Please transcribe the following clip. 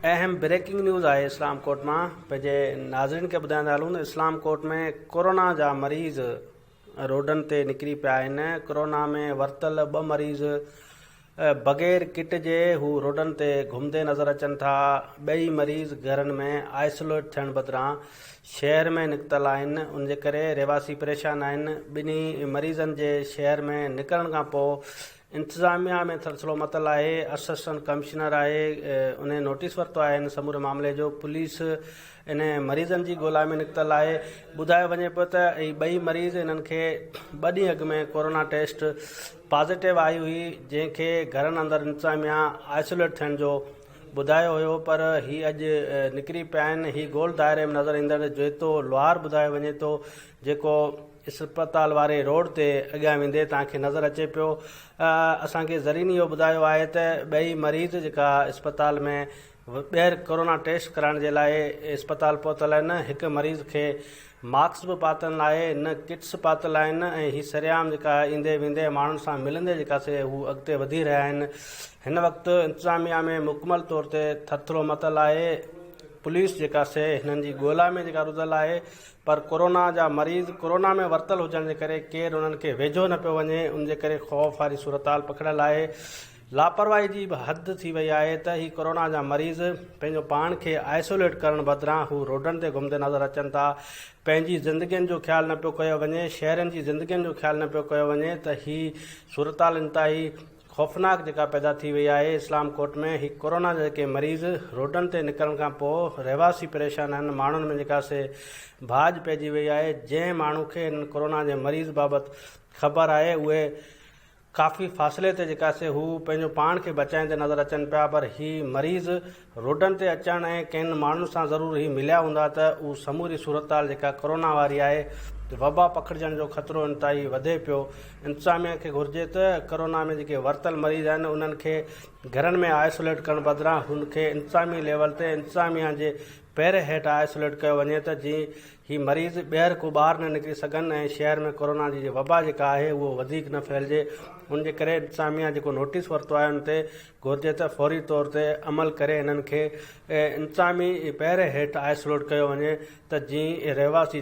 اهم breaking news آهي Islamkot مان پنهنجي ناظرين کي ٻڌائيندا هلون اسلام ڪوٽ ۾ ڪورونا جا مريض روڊن تي نڪري پيا آهن ڪورونا ۾ ورتل ٻه مريض بغير ڪٽ جي هو روڊن تي گهمندي نظر اچن ٿا ٻئي مريض گهرن ۾ آئسوليٽ ٿيڻ بدران شهر ۾ نڪتل آهن ان جي ڪري رهواسي پريشان آهن ٻنهي مريضن جي شهر ۾ نڪرڻ کان پوء انتظاميا ۾ سلسلو متل آهي اسسٽنٽ ڪمشنر آهي انهي نوٽيس ورتو آهي ان سموري معاملي جو پوليس انهي مريضن جي ڳولا ۾ نڪتل آهي ٻڌايو وڃي پيو ته هي ٻئي مريض انهن کي ٻه ڏينهن اڳ ۾ ڪورونا ٽيسٽ پازيٽو آئي هئي جنهن کي گهرن اندر انتظاميا آئسوليٽ ٿيڻ جو ٻڌايو هيو پر هي اڄ نڪري پيا آهن هي گول دائري ۾ نظر ايندڙ جويتو لوهار ٻڌايو وڃي ٿو جيڪو اسپتال واري روڊ تي اڳيان ويندي توهان کي نظر اچي پيو اسان کي زرين اهو ٻڌايو آهي ته ٻئي مريض جيڪا اسپتال ۾ ٻيهر ڪورونا ٽيسٽ ڪرائڻ جي لاء اسپتال پهتل آهن هڪ مريض کي ماڪس به پاتل ناهي نه ڪٽس پاتل آهن ۽ هي سرعام جيڪا ايندي ويندي ماڻهن سان ملندي جيڪا سي هو اڳتي وڌي رهيا آهن هن وقت انتظاميا ۾ مڪمل طور تي ٿرٿرو متل آهي پوليس جيڪا سي هنن جي ڳولا ۾ جيڪا رڌل آهي پر ڪورونا جا مريض ڪورونا ۾ ورتل هجڻ جي ڪري ڪير انهن کي ويجهو نه پيو وڃي ان جي ڪري خوف واري صورتحال پکڙيل آهي لاپرواهي جي به حد ٿي وئي آهي ته هي ڪورونا جا مريض پنهنجو پاڻ کي آئسوليٽ ڪرڻ بدران هو روڊن تي گهمندي نظر اچن ٿا پنهنجي زندگين جو خيال نه پيو ڪيو وڃي شهرين جي زندگين جو خيال نه پيو ڪيو وڃي ته هي صورتحال انتهائي خوفناڪ جيڪا پيدا ٿي وئي آهي اسلام ڪوٽ ۾ هي ڪورونا جا جيڪي مريض روڊن تي نڪرڻ کان پوء رهواسي پريشان آهن ماڻهن ۾ جيڪا سي ڀاڄ پئجي وئي آهي جنهن ماڻهو کي هنن ڪورونا جي مريض بابت خبر آهي اهي ڪافي فاصلي تي جيڪا سي هو پنهنجو پاڻ کي بچائيندي نظر اچن پيا پر هي مريض روڊن تي اچڻ ۽ ڪن ماڻهن سان ضرور هي مليا هوندا ته اهو سموري صورتحال جيڪا ڪورونا واري آهي ته وبا پکڙجڻ جو خطرو انتهائي وڌي پيو انتظاميه کي گهرجي ته ڪورونا ۾ جيڪي ورتل مريض آهن انهن کي گهرن ۾ آئسوليٽ ڪرڻ بدران هن کي انتظامي ليول تي انتظاميه جي پهري هيٺ آئسوليٽ ڪيو وڃي ته جئين هي مريض ٻيهر ڪو ٻاهر نه نڪري سگهن ۽ شهر ۾ ڪورونا جي وبا جيڪا آهي اهو وڌيڪ نه ڦهلجي ان جي ڪري انتظاميه جيڪو نوٽيس ورتو آهي ان تي گهرجي ته فوري طور تي عمل ڪري انهن کي انتظامي پهري هيٺ آئسوليٽ ڪيو وڃي ته جيئن رهواسي.